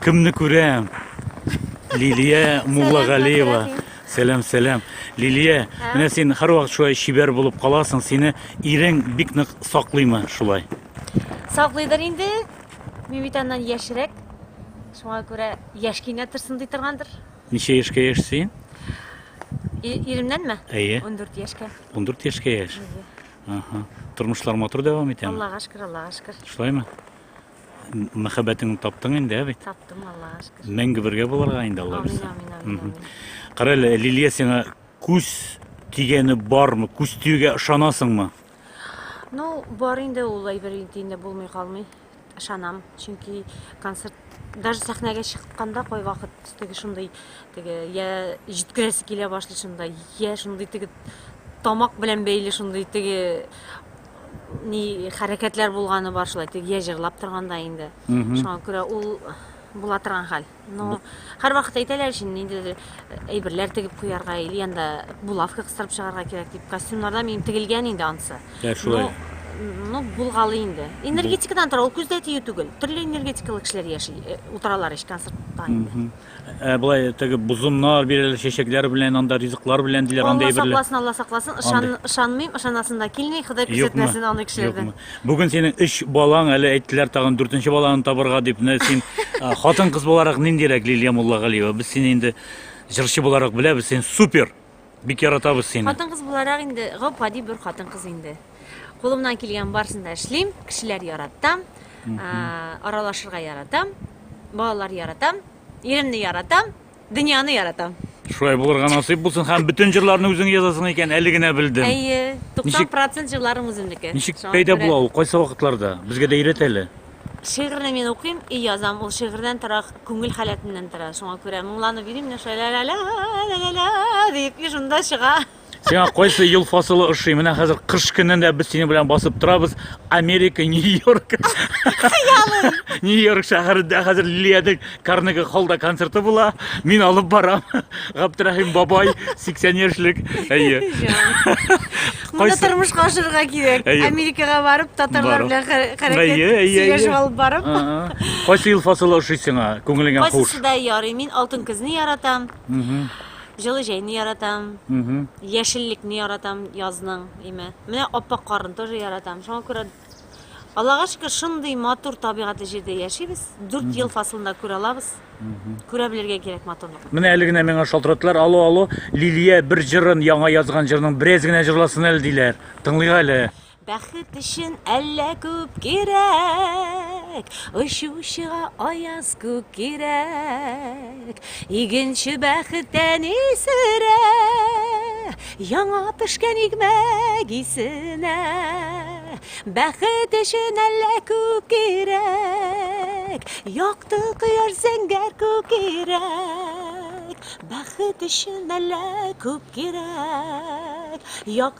Кемне күрәм? Лилия Муллагалиева. Сәлам, сәлам. Лилия, менә син һәрвакыт шулай шибәр булып каласың. Сине ирең бик нык саклыймы шулай? Саклыйдыр инде. Мин бит аннан яшьрәк. Шуңа күрә яшь кенә торсын ди торгандыр. Ничә яшькә яшьсең? Иремнәнме? Әйе. 14 яшькә. 14 яшькә яшь. Ага. Тормышлар матур дәвам итәме? Аллага шөкер, Аллага шөкер. Шулаймы? М- Мәхәббәтеңне таптың инде, ә бит? Таптым, Аллага шөкер. Мәңге бергә булырга инде Алла Амин, бирсә. амин, амин, Мгм. амин. Кара әле, Лилия сиңа күз тигәне бармы? Күз тиюгә ышанасыңмы? Ну, бар инде ул әйбер инде инде булмый калмый. Ышанам, чөнки концерт даже сәхнәгә чыкканда кайвакыт теге шундый теге я җиткерәсе килә башлый шунда, я шундый теге тамак белән бәйле шундый теге ни хәрәкәтләр булганы бар шулай теге я җырлап торганда инде. Шуңа күрә ул була торган хәл. Ну, һәр вакыт әйтәләр шин, ниндидер э, әйберләр тегеп куярга, или анда булавка кыстырып чыгарга кирәк дип. Костюмнарда минем тегелгән инде ансы. Ә шулай. Ну, булгалы инде. Энергетикадан тора, ул күздә тию түгел. Төрле энергетикалы кешеләр яши, э, утыралар ич концертта инде. Мгм. Ә былай теге бозымнар бирәләр, чәчәкләр белән, анда ризыклар белән диләр, Алла андый әйберләр. сакласын, Алла сакласын. Ышан, Андый. ышанмыйм, ышанасым да килми. Ходай Юкмы? күрсәтмәсен аны кешеләрдән. Юкмы? Бүген синең өч балаң, әле әйттеләр тагын дүртенче баланы табырга дип. Менә син хатын-кыз буларак ниндирәк Лилия Муллагалиева? Без сине инде җырчы буларак беләбез, син супер! Бик яратабыз сине. Хатын-кыз буларак инде гап-гади бер хатын-кыз инде. Кулымнан килгән барысын да эшлим, кешеләр яратам, аралашырга яратам, балалар яратам, иремне яратам, Дөньяны яратам. Шулай булырга насыйп булсын һәм бөтен җырларны үзең язасың икән, әле генә белдем. Әйе, 90% җырларым үземнеке. Ничек пәйда була ул, кайсы вакытларда? Безгә дә өйрәт әле. Шигырьне мин укыйм и язам, ул шигырьдән тора, күңел халәтеннән тора. Шуңа күрә моңланып йөрим, менә шулай ла-ла-ла, ла-ла-ла дип, и шунда чыга. Сиңа кайсы ел фасылы ошый? Менә хәзер кыш көнендә без синең белән басып торабыз. Америка, Нью-Йорк. Нью-Йорк шәһәрендә хәзер Лилиянең Карнеги холлда концерты була. Мин алып барам. Габдрахим бабай 80 яшьлек. Әйе. Моны тормышка ашырырга кирәк. Америкага барып, татарлар белән хәрәкәт сөйләшеп алып барып. Кайсы ел фасылы ошый сиңа? Күңелеңә хуш. Кайсы да ярый. Мин алтын көзне яратам. Җылы җәйне яратам. Мгм. Яшеллекне яратам язның, име. Менә аппак карын тоже яратам. Шуңа күрә Аллага шөкер, шундый матур табигатьле җирдә яшибез. Дүрт ел фасылында күрә алабыз. Күрә белергә кирәк матурлыкны. Менә әле генә миңа шалтыраттылар, алло, алло, Лилия бер җырын, яңа язган җырның бераз генә җырласын әле, диләр. Тыңлыйк әле. Бәхет өчен әллә күп кирәк, Очучыга аяз күк кирәк. Игенче бәхеттән исерә, Яңа пешкән игмәк исенә. Бәхет өчен әллә күп кирәк, Якты кояш зәңгәр күк кирәк. Бәхет өчен әллә күп кирәк, Якты.